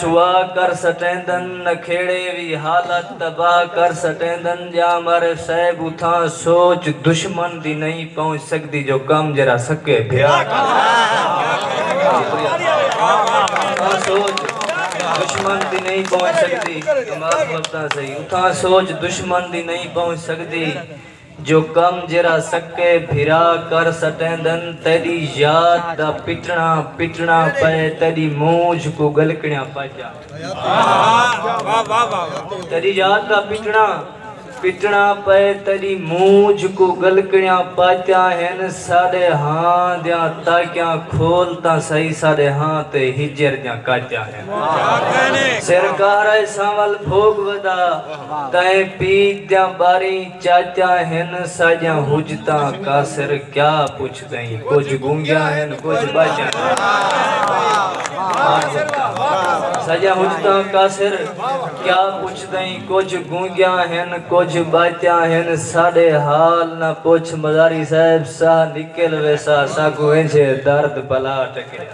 سوا کر سٹیندن نکھیڑے وی حالت تباہ کر سٹیندن جاں مارے صاحب اتھاں سوچ دشمن دی نئیں پہنچ سکدی جو کم جیرھا سکے بھرا کریندے۔ جو کم جیرھا سکے بھرا کر سٹیندن تیڈی یاد دا پٹنا پٹنا پئے تیڈی مونجھ کوں گلکنیاں پج جاون تیڈی یاد دا پٹنا پٹنا پئے تیڈی مونجھ کوں گلکنیاں پاتیاں ہن ساڈے ہاں دیاں تاکیاں کھول تاں سہی ساڈے ہاں تے ہجر دیاں کاتیاں ہن۔ سر کہر ء سانول بھوگ ودا کئیں پیت دیاں ٻاریں چاچاں ہن ساجیاں حجتاں کاسر کیا پچھ دئیں کجھ گونگیاں ہن کجھ ٻاجیاں ساجیاں حجتاں کاسر کیا پچھ دئیں کجھ گونگیاں ہن کجھ ٻاجیاں ہن ساڈے حال نہ پچھ مزاری صاحب ساہ نکل ویسا ساکوں انجھے درد بھلا ٹکریا۔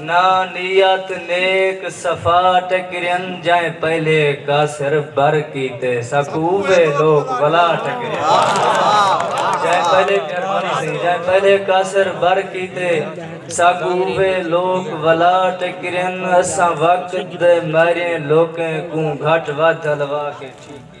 نہ نیت نیک صفا ٹکرین جئیں پہلے کاسر بر کیتے ساکوں اوہے لوک ولا ٹکرین جئیں پہلے مہربانی سئیں جئیں پہلے کاسر بر کیتے ساکوں اوہے لوک ولا ٹکرین اساں وقت دے ماہریں لوکیں کوں گھٹ ودھ الوا کے ٹھیک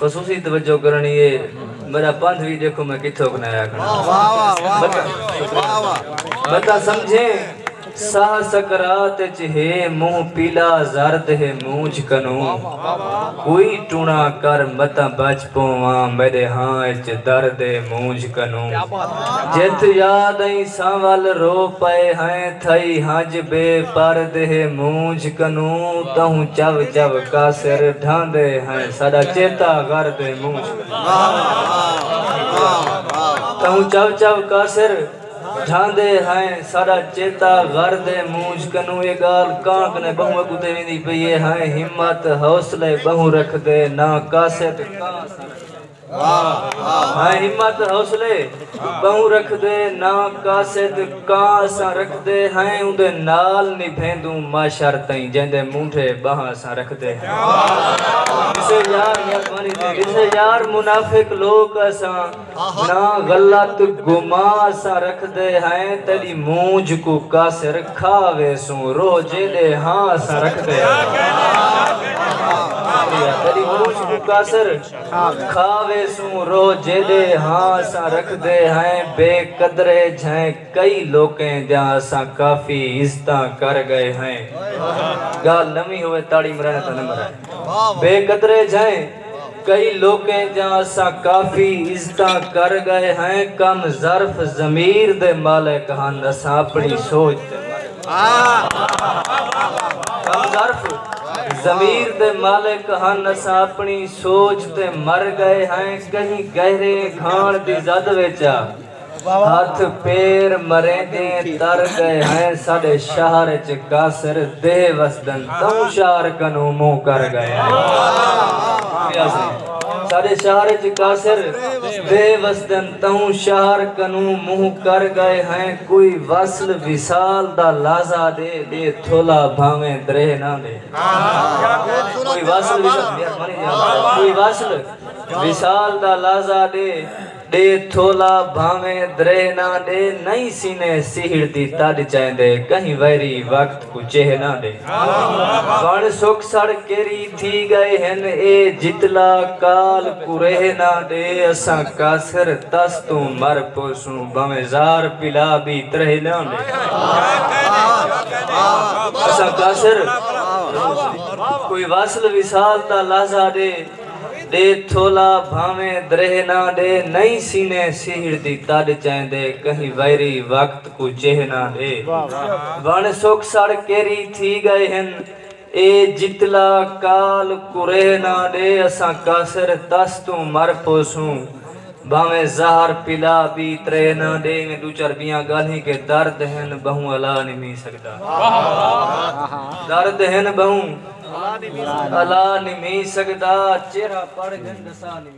خصوصی توجہ کرنڑی اے میڈا پندھ وی ڈیکھو میں کتھوک نئے آکھنڑا بتا سمجھیں ساہ سکرات اچ ہے منہ پیلا زرد ہے مونچھ کنوں کوئی ٹونا کر متاں بچ پوواں میڈے ہاں اچ درد ہے مونچھ کنوں جتھ یاد ائیں سانول رو پئے ہیں تھئی ہنج بے پرد ہے مونچھ کنوں تہوں چو چو کاسر ڈھاندے ہیں۔ ساڈا چیتا غر دے منہ تہوں چو چو کاسر ڈھاندے ہائیں ساڈا چیتا غر دے منہ کنوں اے گال کانک نے بہوں اگوں تے ویندی پئی اے ہائیں ہمت حوصلے بہوں رکھ دے نہ کاسے تے کاں ساڈا میں ہمت حوصلے بہوں رکھدے نہ قاصد کاں اساں رکھدے ہیں اوندے نال نبھیندوں معشر تئیں جیندے مونڈھے بہاں اساں رکھدے ہیں کسے یار مہربانی تھے کسے یار منافق لوک اساں نہ غلط گماں اساں رکھدے ہیں تیڈی مونجھ کو قاصر کھا ویسوں روہ جیندے ہاں اساں رکھدے ہیں تیڈی مونجھ کو قاصر کھا ویسوں روہ جیڈے ہاں اساں رکھدے ہئیں بے قدرے جھئیں کئی لوکیں دیاں اساں کافی عزتاں کر گئے ہئیں گالھ نویں ہووے تاڑی مرانے دا نمبر آئے بے قدرے جھئیں کئی لوکیں دیاں اساں کافی عزتاں کر گئے ہئیں کم ظرف ضمیر دے مالک ہن اساں اپنی سوچ تے مر گئے ضمیر دے مالک ہن اساں اپنی سوچ تے مر گئے ہیں کہیں گہرے گھان دی زد ویچا ہاتھ پیر مریں دیں تر گئے ہیں ساڑے شہر چ کاسر دے وسدن تو شہر کنو مو کر گئے ہیں ساڑے شہر چ کاسر دے وسدن توں شہر کنوں منہ کر گئے ہیں کوئی وصل وصال دا لازہ دے دے تھولا بھاویں دریہ نہ دے کوئی وصل کوئی وصل وصال دا لازہ دے دے تھولا بھاویں دریہ نہ دے نہیں سینے سیہڑ دی تڈ چیندے کہیں ویری وقت اچے ہے نا آندے وݨ سک سڑ کیری تھی ڳئے ہن اے جتلا کال کورے ہے نا آندے اساں کاسر تس توں مر پوسوں بھویں زار پلا بی ترے ہے نا آندے اساں کاسر کوئی وصل وصال دا لحظہ ݙے ݙے تھولا بھویں درے ہے نا آندے نئیں سینے سیہڑ دی تݙ چیندے کہیں ویری وقت کوں چہنا ݙے۔ وݨ سک سڑ کیری تھی ڳئے ہن۔ اے جتلا کال کریہنا ݙے اساں کاسر تس توں مر پوسوں۔ بھانویں زہر پلا ٻی تریہنا ݙے ایویں ݙو چار ٻیاں ڳالھیں کہ درد ہن ٻہوں الا نمی سڳدا۔ درد ہن ٻہوں الا نمی سڳدا۔ چہرہ پڑھ گھن ݙسا نمی۔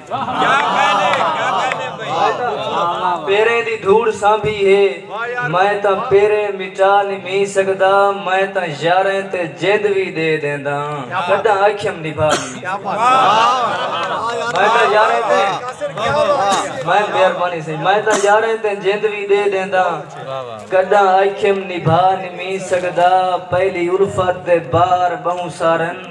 پیریں دی دھوڑ سانبھی ہے میں تاں پیریں مٹا نمیں سگدا میں تاں یاریں تے جند وی ڈے ڈینداں کڈاں آکھیم نبھا نمیں سگدا پہلی الفت دے بار بہوں سارن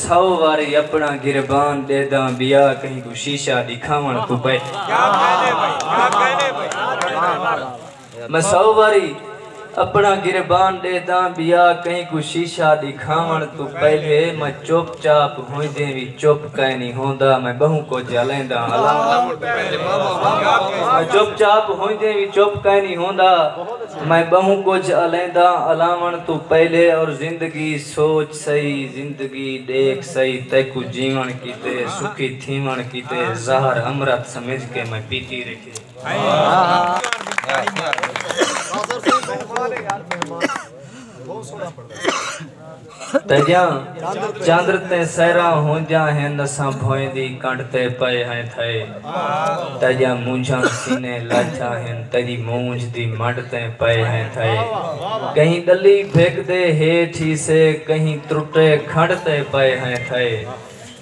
سو واری اپنا گربان ڈیداں بیا کہیں کوں شیشہ ڈکھاون کوں پئے۔ میں سو واری اپنا گربان ڈیداں بیا کہیں کوں شیشہ ڈکھاون توں پہلے میں چپ چاپ ہوندیں وی چپ کائنی ہوندا میں بہوں کجھ الیندا میں چپ چاپ ہوندیں وی چپ کائنی ہوندا میں بہوں کجھ الیندا الاون توں پہلے اور زندگی سوچ سئی زندگی ڈیکھ سئی تیکوں جیون کیتے سکھی تھیون کیتے زہر امرت سمجھ کے میں پیتی رکھے تیجاں چندر تے سیراں ہونجاں ہن اساں بھوئیں دی کنڈ تے پئے ہیں تھئے تیڈیاں مونجھاں سینے لاتھیا ہن تیڈی مونجھ دی منڈ تیں پئے ہیں تھئے کہیں ڈلی بھگ دے ہیٹھ ہی سے کہیں ترٹے کھنڈ تے پئے ہیں تھئے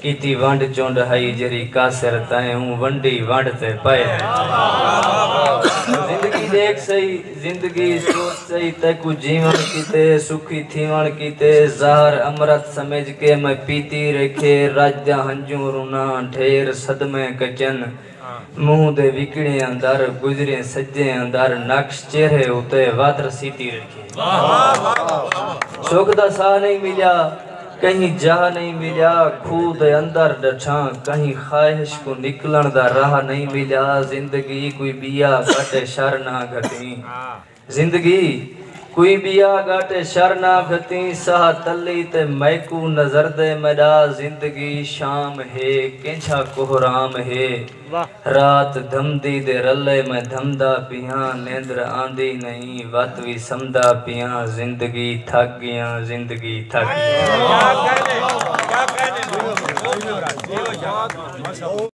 کیتی ونڈ چنڈ ہئی جیرھی کاسر تیں اوں ونڈی ونڈ تے پئے ہیں تھئے زندگی ڈیکھ سئی زندگی سوچ سہی تیکوں جیوݨ کیتے سکھی تھیوݨ کیتے زہر امرت سمجھ کے میں پیتی ریکھے رڄ دا ہنجوں روناں ڈھیر صدمے کچن منہ دے وکڑیں اندر گزریں سجیں اندر نقش چہرے اتے وتر سیتی ریکھے سکھ دا ساہ نئیں ملیا کہیں جاہ نئیں ملیا کھوہ دے اندر ڈٹھاں کہیں خواہش کوں نکلݨ دا راہ نئیں ملیا زندگی کوئی ٻیا گاٹے شر نہ گھتیں زندگی کوئی ٻیا گاٹے شر نہ گھتیں ساہ تلی تے میکوں نظردے میݙا زندگی شام ہے کینجھا کوہرام ہے رات دھمدی دے رلے میں دھمدا پیاں نیندر آندی نئیں وت وی سمدا پیاں زندگی تھک گیاں زندگی تھک گیاں۔